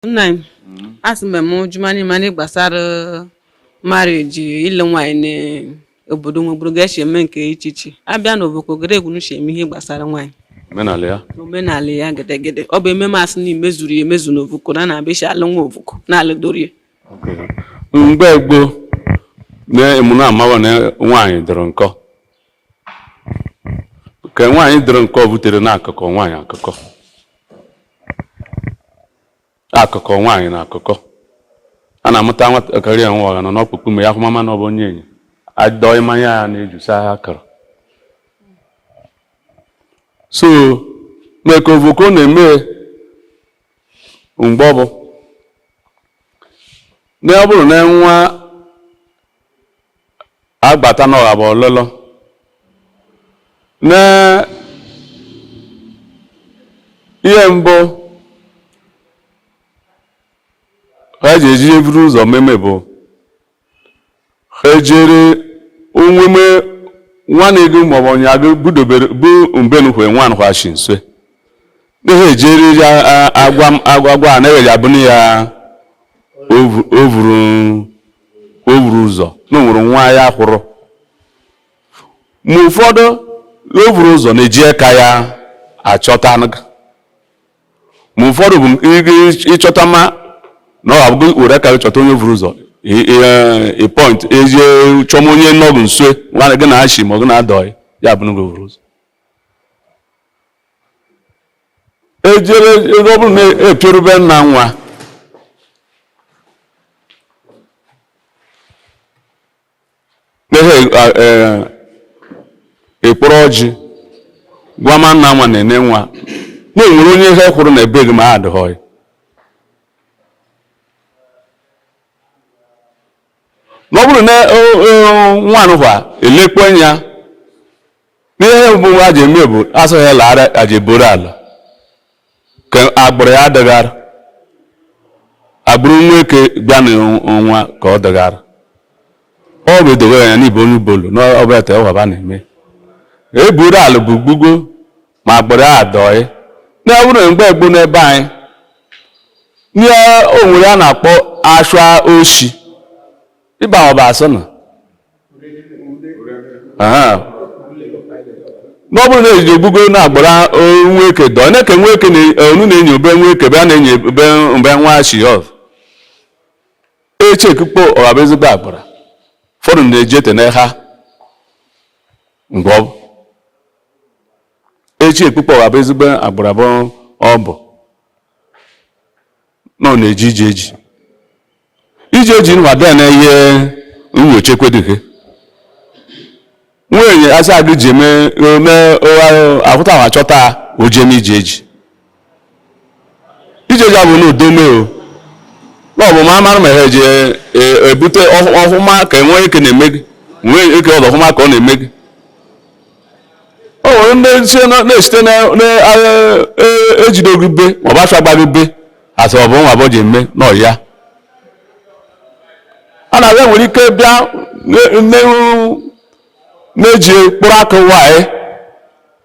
nna m asị mgbe m jụma n'ime gbasara marriage ịlụ nwaanyị n'obodo nwegburu ga esi eme nke iche iche abịa n'Ovoko gere egwu n'uche eme ihe gbasara nwaanyị omenala ya gedegede ọ bụ ememe asị na imezuru ya emezu na Ovoko na na-abịa isi alụ nwa Ovoko na alụdori ya mgbe gboo na emume amawa na nwaanyị dịrị nkọ ka nwaanyị dịrị nkọ butere na akụkọ nwaanyị akụkọ akụkọ nwaanyị na akụkọ a na-amụta nwatakịrị ya nwa ọha nọ n'ọkpụkpụ ma ya ahụmama na ọ bụ onyenye adọị mmanya ya n'eju sa ha akara so maka Ovoko na-eme mgbe ọ bụ na ọ bụrụ na nwa agbata n'ọha bụ ọlụlụ na ihe mbụ ha ji eji eburu ụzọ meme bụ ha ejere onweme nwanne gị maọbụ ọnya gị budobere bụ mbenukwe nwa nwachi nso na ha ejere ya agwa a na-ewe ya bụ na ya ovuru ovuru ụzọ na o nwere nwa ya hụrụ ma ụfọdụ ovuru ụzọ na-eji aka ya achọtanụ gị. ma ụfọdụ bụ ị- ị- ịchọta ma na ọ bụ were aka gị chọta onye ovuru ụzọ ị- ị- eh, ị point ezie chọma onye nọ gị nso nwanne gị na-achị ma ọ gị na-adọghị ya bụnụ gị ovuru ụzọ ejere ọ bụrụ na epioru be nna nwa na-ehe ekporo ọjị gwama nna nwa na nne nwa na e nwere onye ha hụrụ na be gị ma adịghị na ọ bụrụ na nwanụ kwa elekpo anya n'ihe mbụ a ji eme bụ asụghị ala ara aji boro ala ka agbụrụ ya dịghara agbụrụ nweke bịa na nwa ka ọ dịghara ọ bụ edowe ya n'ibe onye Ubolo na ọbụla ta ọhaba na-eme eburu ala bụ gbugo ma agbụrụ ya adọị na ọ bụrụ mgbe gboo n'ebe anyị nye onwere a na-akpọ ashwa oshi ịba ọba asị na ọ bụrụ na ejije ogbugo na agbụrụ nweke dọ na-eke nweke onu na-enye obe nweke be a na-enye obe mgbe nwa shi ọf echi ekukpo ọba ezigbo agbụrụ ụfọdụ na-eji ete na ha mgbe ọ bụ echi ekpukpe ọwa bụ ezigbo agbụrụ abụọ ọ bụ na ọ na-eji ije eji ije eji nwada na ihe nyocha ekwedighe nwunye asị agụ ji eme ome ahụta ma chọta ojem ije eji ijeja bụ n'udome o n'ọbụ ma amara ma ha eji ebute ọhụma ka enwee ike na-eme gị nwee ike ọdụ ọhụma ka ọ na-eme gị o nwere ndị na-esite na-ejide gị be ma ọ bụ afịa gba gị be asị ọ bụ nwa bụ ji eme nọ ya a na-abịa nwere ike bịa na-eji mkpụrụ akụ nwanyị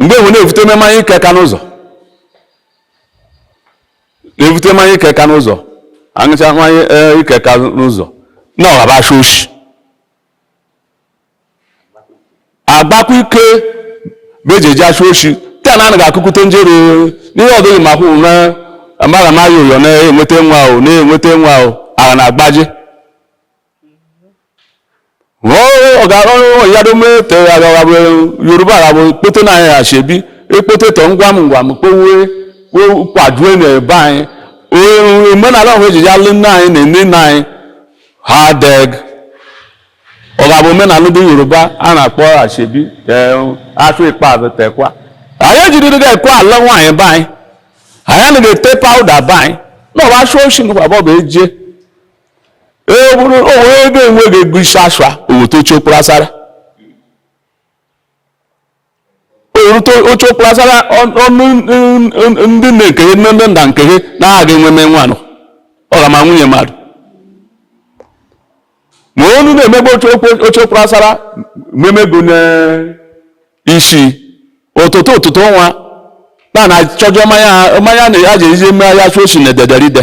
mgbe enwe na-evute mmanya ike ka n'ụzọ na-evute mmanya ike ka n'ụzọ aṅụcha mmanya e, ike ka n'ụzọ na ọghaba asha oshi agbakwa ike bụ eji eji asha oshi taa na anaghị akụkụta njere n'ihe ọdịghị ma kwụ na amaghị amaghị ụyọ na-enweta nwa ahụ na-enweta nwa ahụ a ga na-agbaji yoruba aghabụ ekpote na anyị asoebi ekpote tọ ngwa m ngwa m kpowe kwadue na ebe anyị omenala ọhụ ejiji alụ nne anyị na nne nna anyị ha deg ọ ga-abụ omenala ndị yoruba a na-akpọ asoebi afọ ikpeazụ tekwa anyị ejidiri ga ekwe ala nwaanyị be anyị anyị anaghị ete pawuda be anyị na ọba ashụ oshi ngwa bọbụ eje ee bụrụ o nwe ego enweghị ego isi asha o wete oche okporo asara oche okporo asara ọnụ ndị na-ekenye ndị nda nkenye na-aga enwe mee nwanụ ọga ma nwunye mmadụ ma onu na-emegbe oche okporo asara memego n'isi ụtụtụ ụtụtụ nwa na na-achọjọ mmanya na ya ji ezi mmanya ya shụ oshi na ederide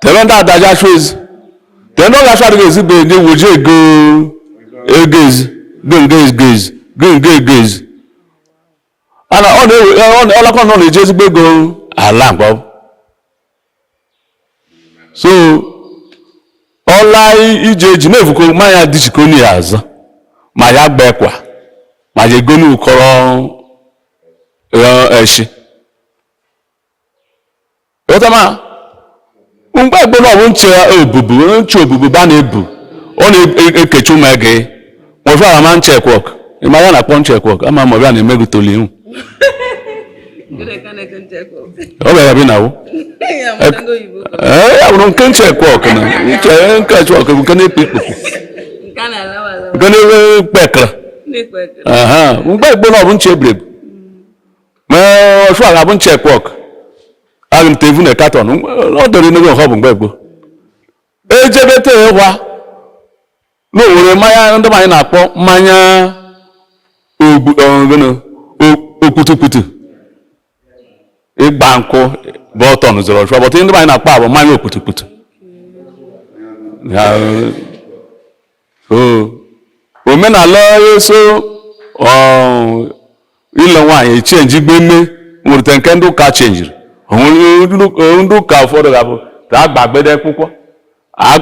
tebe ndị ada ga-achụ ezi tebe ndị ọ ga-achụ adịghị ezi bụ ndị wuji ego ego ezi go nga ezi go ezi go nga ego ezi ana ọ na-ewe ọ na- ọlakọ nọ na-eji ezigbo ego ala mgbe ọ bụ. so ọla ije eji na-evuko ma ya dịchiko na ya azụ ma ya gba ekwa ma ya ego n'ukọrọ eshi ọtama mgbe gboo na ọ bụ nche obubu nche obubu ba na-ebu ọ na-ekechi ụmụ ege nwefọ ara ma nche ekwọk ịma ya na-akpọ nche ekwọk ama ma ọbịa na-eme gị toli ihu ọ bịara bi na wụ ya bụrụ nke nche ekwọk na nche nke ekwọk bụ nke na-ekpe ikpokwu nke na-ekpe ekara mgbe gboo na ọ bụ nche ebrebu me ọshụa a bụ nchek wọk agụ nte evu na katọn ọ dọrọ n'oge nke ọ bụ mgbe gboo ejebete ịgwa na owere mmanya ndị anyị na-akpọ mmanya ọ bụ gụnụ okputukputu ịgba nkwụ bọtọn zọrọ ọshụa bọtụ ndị anyị na-akpọ a bụ mmanya okputukputu omenala eso ịlụ nwaanyị echenjigbeme nwere nke ndị ụka chenjiri ndị ụka ụfọdụ ga-abụ ka a gbagbede akwụkwọ a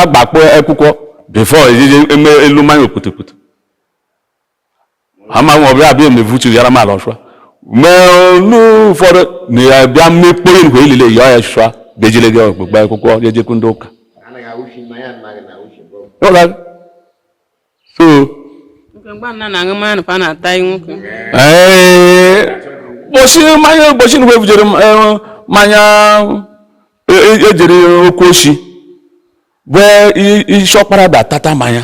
gbakpọ akwụkwọ bifo ejije eme elu mmanya okputukputu amaghị ọbịa abịa emevutu yara m ala ọshụa mee olu ụfọdụ na-abịa emekpo ya nkwe ilile ya ọshụa bejile gị okpukpe akwụkwọ jejekwu ndị ụka so ụbọchị mmanya ụbọchị na evujere mmanya ejere okwu ochi bụ isi ọkpara ba tata mmanya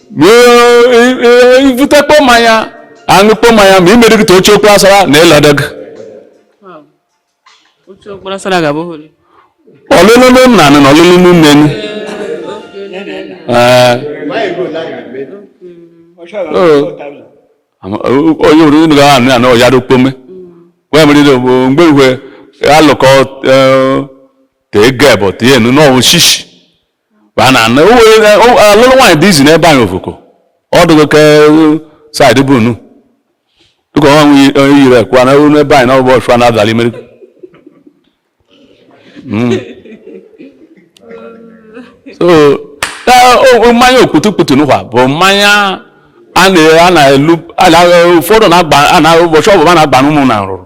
e vutekpo mmanya a ṅụkpo mmanya ma imere gị oche okwu asara na ịlọdọ gị ọlụlụ nna na ọlụlụ nne onye wuru unu ga anụ anụ ya rukpome wee mere ile bụ mgbe igwe alụkọ te geb te enu n'ọwụ shishi ba na na o were na o- alụrụ nwaanyị dị izi n'ebe anyị Ovoko ọ dịgo ka saịdị bụ nu dịka ọnwa nwe onye yiri ekwa na olu ebe anyị na ọgbọ ọshụa na-adala imeri Mm. so na- o- o- mmanya okputukputu nụwa bụ mmanya a na- a na-elu a na- ụfọdụ na-agba a na ụbọchị ọbụla na-agba n'ụmụ na nrụrụ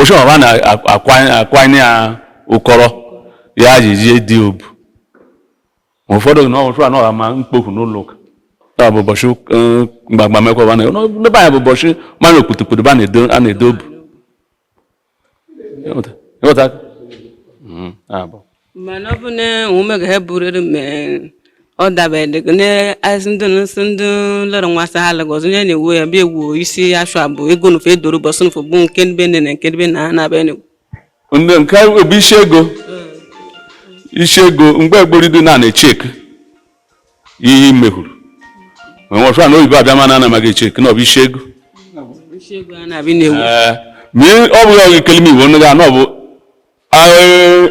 ọshụa ba na-akwanye ya ụkọrọ ya ji jie dị obu ma ụfọdụ na ọchụ anọ ma mkpofu n'ụlọ ụka ya bụ ụbọchị eh, mgbagba mekwaba na n'ebe anyị bụ ụbọchị mmanya okputukputu ba na-edo obu ị ghọta ị ghọta mm, abụ mana ọ bụ na ụmụ ga ha burere mgbe ọ dabere n'azị ndị nsị ndị lọrọ nwasa ha lagọzị onye na-ewu ya bịa egwu isi ashụ abụ ego nufe edoro bọsụ nufe bụ nke ndị bene na nke ndị bene ha na-abịa n'egwu ndị nke bụ isi ego isi ego mgbe gboo ridu na na-echek ihe mehuru ma nwọshụa na oyibo abịama na anamaghị echek na ọ bụ isi ego isi ego ha na-abịa n'egwu Ee, ma ị- ọ bụghị ọgụ kelime iwu onye ga na ọ bụ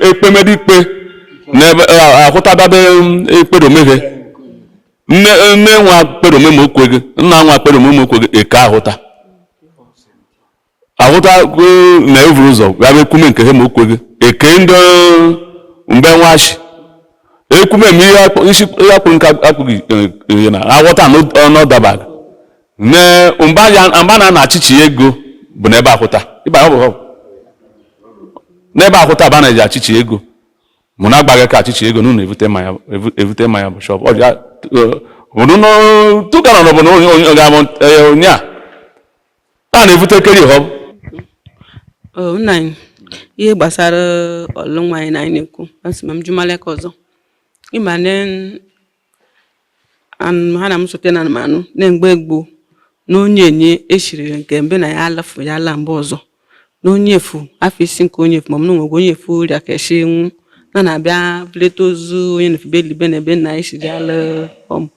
ekpemede ikpe n'ebe ahụta bade ekpedomeghe nne nne nwa kpedome ma o kweghị nna nwa kpedome ma o kweghị eke ahụta ahụta na evuru ụzọ bịa bụ ekwume nke ha ma o kweghị eke ndị mbe nwa shi ekwume m ihe akpụ- isi ihe akpụrụ nke akpụghị ihe na aghọta na ọ dabaghị ne mgbe a ya- mgbe a na-ana achịchị ego bụ n'ebe ahụta ịba ọ bụ ọ? n'ebe ahụta bụ a na-eji achịchị ego mụ na-agbaghị ka achịchị ego n'ụlọ evute mmanya evu- evute mmanya bụ shọp ọbịa tụkara na ọbụla onye ga-abụ onye a a na-evute keri ihe ọ bụ Oh, nna anyị ihe gbasara ọlụ nwaanyị na anyị na-ekwu asị ma m jụmaleka ọzọ ịma na ha na m sote na anụ m anụ na mgbe gboo na onyenye eshiri nke be nna ya alafu ya ala mba ọzọ na onye efu afọ isi nke onye efu ma m na onwegwe onye efu rịa ka eshi nwụ na na-abịa vulete ozu onyenye fu bịa elibe na ebe na eshiri alụ ọmụ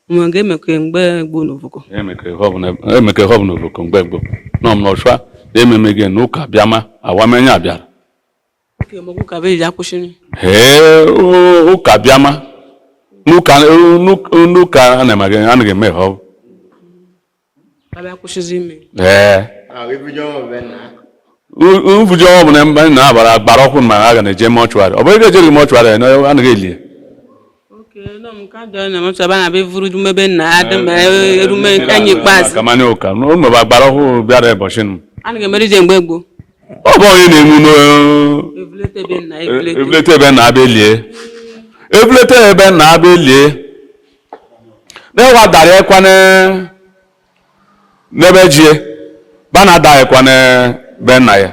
mgbe ga emekọ mgbe gboo na ovoko emekọ ihe ọ bụ na ovoko mgbe gboo na ọ bụ nwọshụa na ememeghị na ụka bịama awamanya abịara ee ụka bịama n'ụka anaghị eme ihe ọ bụ ee mfuji ọnwụ bụ na mba na-abara agbara ọkụ ma a ga na-eje mọchụarị ọ bụrụ ga ejere mọchụarị anaghị elie gbara ọhụụ bịara ụbọchị nụ ọ bụ onyenye nwụ n'evulete be nna bịa elie evulete be nna bịa elie na-ewadara ekwa n'ebe jie ba na-ada ekwa ne be nna ya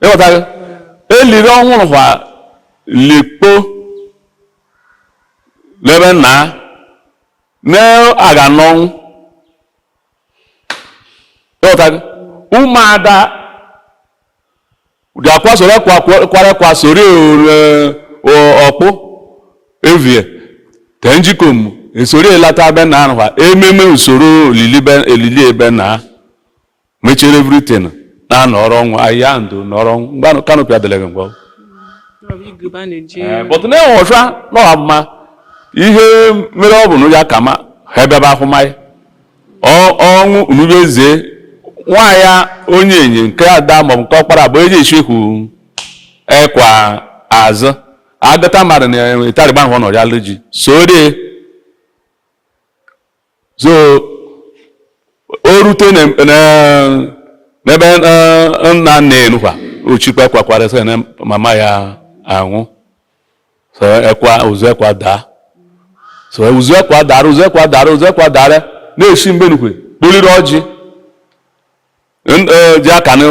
ịghọtaghị eliri ọhụrụ kwa likpo n'ebe nna ya na-aga n'ọnwụ ịghọtaghị ụmụada ga-akwa soro kwara ekwa soro ọkpụ evie te njikom esoro elata be nna ahụ ememe usoro olili be- elili ebe nna mechere everything na-anọrọ ọnwụ ahịa ndụ nọrọ ọnwụ mgbe anụ canopy adịleghị mgbe ọgwụ but na-enwe ọcha n'ọha mma ihe mere ọ bụ na ya ka ma ha ebebe ahụmahị ọnwụ unube eze nwaanyị onye enyi nke ada maọbụ nke ọkpara bụ eji echehu ekwa azụ agata mmadụ na ịtarịgba ahụ nọ ya ji sodie so o rute n'ebe nna nna enukwa ochikpa ekwa kwara sị na mama ya anwụ so ekwa ụzụ ekwa daa so ụzụ ekwa dara ụzụ ekwa dara ụzụ ekwa dara na-esi mgbe nukwe kpụrịrị ọjị ji aka na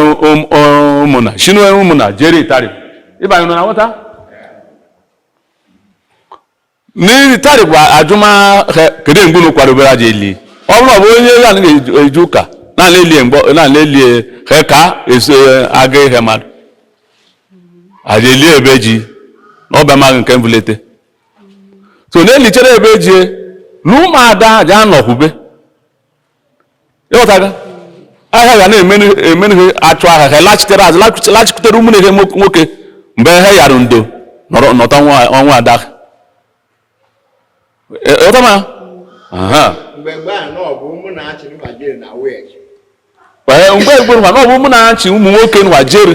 ụmụnna shinu ụmụnna jere itari ịbanye na-aghọta n'itari bụ ajụma ha kedu mgbe unu kwadobere a ja-eli ọ bụrụ ọ bụ onye ya na-eje ụka na-elie mgbe na-elie ha ka eso aga ihe mmadụ a ja-eli ebe ji na ọbịa maghị nke mbulete so na-elichere ebe ji na ụmụada aja anọkwube ị ghọtago ahịa ga na-emenu ha achụ ahịa ha lachitere azụ lachitere ụmụnne ha nwoke mgbe ha yara ndo nọta ọnwụ ada ị ghọta ma mgbe gboo na ọ bụ ụmụnna achị ụmụ nwoke nwa jere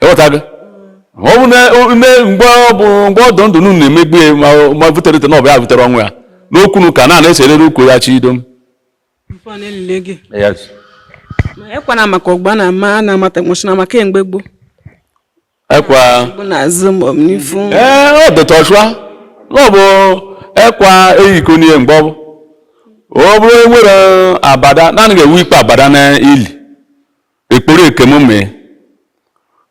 ị ghọtago ọ bụ na-eme mgbe ọ bụ mgbe ọ dụ ndụ unu na-emegbu ya ma butere ite na ọ bụ ya butere ọnwụ ya n'okwu n'ụka na na-eserere okwu ya chi idom ekwana maka ọgba na ama a na-amata nwụchina maka mgbe gboo ekwa ee ọ dịtọchụa ọ bụ ekwa eyiko n'ihe mgbe ọ bụ ọ bụrụ e nwere abada na anyị ga-ewe ikpe abada na ili ekporo ekemụme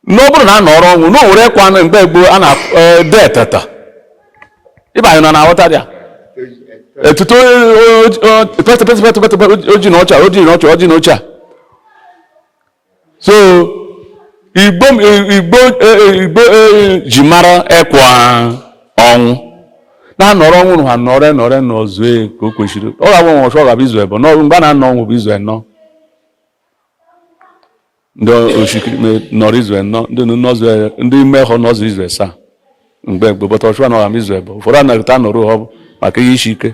na ọ bụrụ na a nọrọ ọnwụ na o nwere ekwa nụ mgbe gboo a na eh, de eteta ịba anyị nọ na-aghọta ya etuto petepetepetepete oji na ọcha oji na ọcha oji na ọcha so igbo igbo eh, igbo eh, ji mara ekwa ọnwụ na-anọrọ ọnwụ na ha nọrọ nọrọ nọzuo ka o kwesịrị ọ ga-agbanwe ọchụ ọ ga-abụ izu ebọ n'ọrụ mgbe a na-anọ ọnwụ bụ izu enọ ndị oshikirime nọrọ izu enọ ndị nọzwe ndị ime hụ nọzụ izu esaa mgbe mgbe bọta ọchụwa nọra m izu ebọ ụfọdụ anaghịta nọrọ ha bụ maka ihe isi ike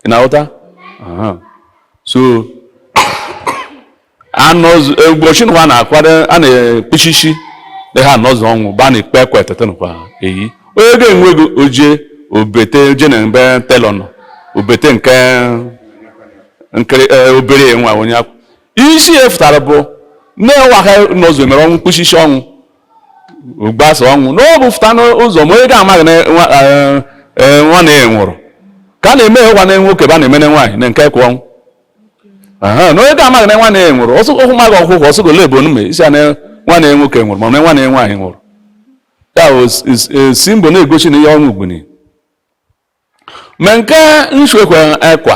ị na-aghọta Aha. so anọzụ ụbọchị nwa na-akwado a na-ekpuchi isi na ha anọzụ ọnwụ ba na ikpe ekwe e tete nkwa eyi onye ga-enwe ego oje obete oje na mbe telọ nọ obete nke nkere eh, obere nwa onye akwụ- isi ihe fụtara bụ na nwa ha anọzụ emere ọnwụ kpụsị ishi ọnwụ gbasa ọnwụ na ọ bụ fụta n'ụzọ ma onye ga-amaghị na nwa eh, eh, nwanne ya nwụrụ ka a na-eme ịhụkwa na nwoke ba na-emene nwaanyị na nke kwa ọnwụ Aha, na onye ga-amaghị na nwanne ya nwụrụ ọsụ ọhụ maghị ọkwụkwọ ọsụ gole bụ onume isi a na nwanne ya nwoke nwụrụ ma na nwanne ya nwaanyị nwụrụ ya bụ s- s- eh, symbol na-egosi na ihe ọnwụ gbuni ma nke nsu ọkụ ekwa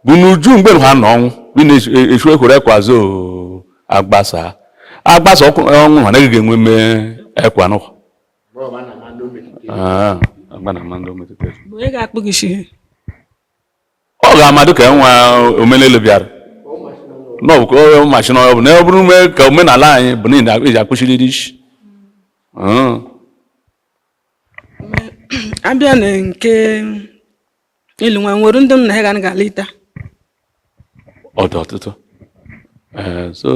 bụ n'uju mgbe ha nọ ọnwụ bi na-esu ekwere ekwa zo agbasa agbasa ọkụ ọnwụ ha naghị ga-enwe mme ekwa n'ụwa Ah, agba na ama ndị o metụtara. onye ga-akpụ gị ishi ọ ga-amadụ ka nwa omenelu bịara na ọ bụ mashin na ọ bụ na ọ bụrụ ume ka omenala anyị bụ na ị na- ị ji akpụchiriri isi Mm. abịa na nke ịlụ nwa nwere ndị m na ha ga ga alịta ọ dụ ọtụtụ eh, so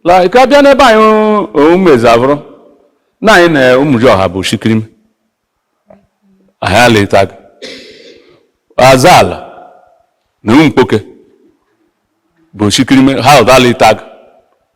like abịa n'ebe anyị ụmụeze abụrụ na anyị na ụmụji ọha bụ oshikirime anyị alịtaga aza ala na ụmụ mkpoke bụ oshikirime ha ọdụ alịta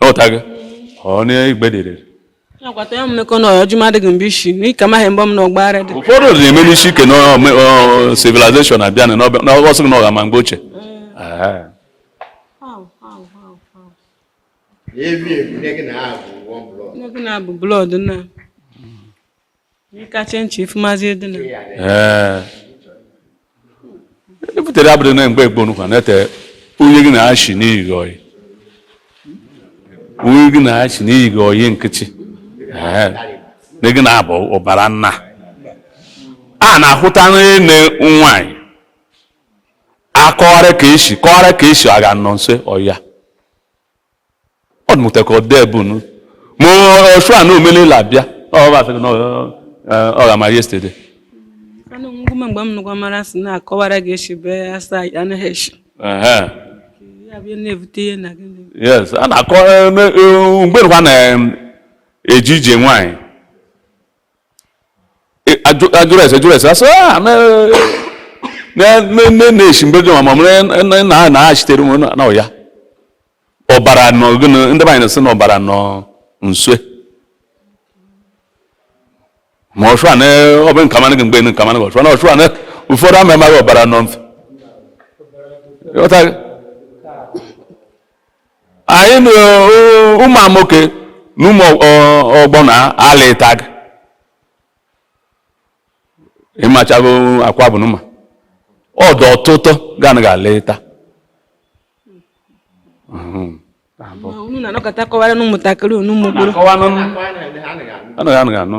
ọtaga ọnụ igbe dịrị akwata ya mmekọ na ọjụma adịghị mgbe isi n'ike amaghị mgbe m na ọgbara dị ụfọdụ dị na-eme n'isi ike na civilization abịa na ọsọ na ọga ma mgbe ochie Ebi ebi, na gị na-abụ one blood. na gị na-abụ blood nnaa ebutere abụrụ na mgbe gboo nụkwa na-ete onye gị na-achị n'iyi gị ọyị onye gị na-achị n'iyi gị ọyị nkịtị na gị na-abụ ọbara nnaa na-ahụta nne nwanyị akọwara ka esi kọwara ka esi aga nọ nsọ ya ọ dịmụta ka ọ dee bụ nu ma ọchụ a na omenala abịa ọ ba fere na ọ- ọ- ọ ga-ama yesterday Anụ ngwụme mgbe m nụkwa mara sị na-akọwara gị eshi bee asa anaghị eshi Ehe. ya bịa na-ebute ihe na gị na- yes a na-akọ eme- eh, mgbe nụkwa na-eji ije nwaanyị a jụrụ ese jụrụ ese asị ah, na-eshi mgbe jụrụ ma mụrụ na na-achitere m na ọya ọbara nọ gịnị ndị be anyị na-asị na ọbara nọ nso ma ọchụ a ọ bụ nka mana gị mgbe nka mana gị ọchụ na ọchụ a ụfọdụ ama amaghị ọbara nọ mfe anyị na uh, ụmụ nwoke na ụmụ uh, ọgbọ na ala ịtag ịmachago akwa bụ nụma ọdụ ọtụtụ ganụ ga-ala ịta unu na-anọkọta kọwara n'ụmụntakịrị unu ụmụ gboro anụ ga-anụ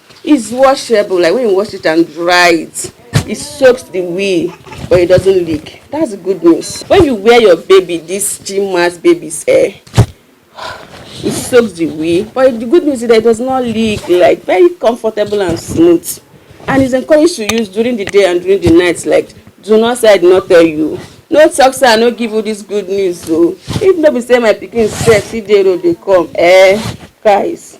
It's washable, like when you wash it and dry it, it soaks the wee, but it doesn't leak. That's good news. When you wear your baby, this gym mass baby's hair, it soaks the wee, but the good news is that it does not leak, like very comfortable and smooth. And it's encouraged to use during the day and during the night, like do not say I did not tell you. No talk say I no give you this good news o. Oh. If no be say my pikin sef fit dey road dey come, eh, guys.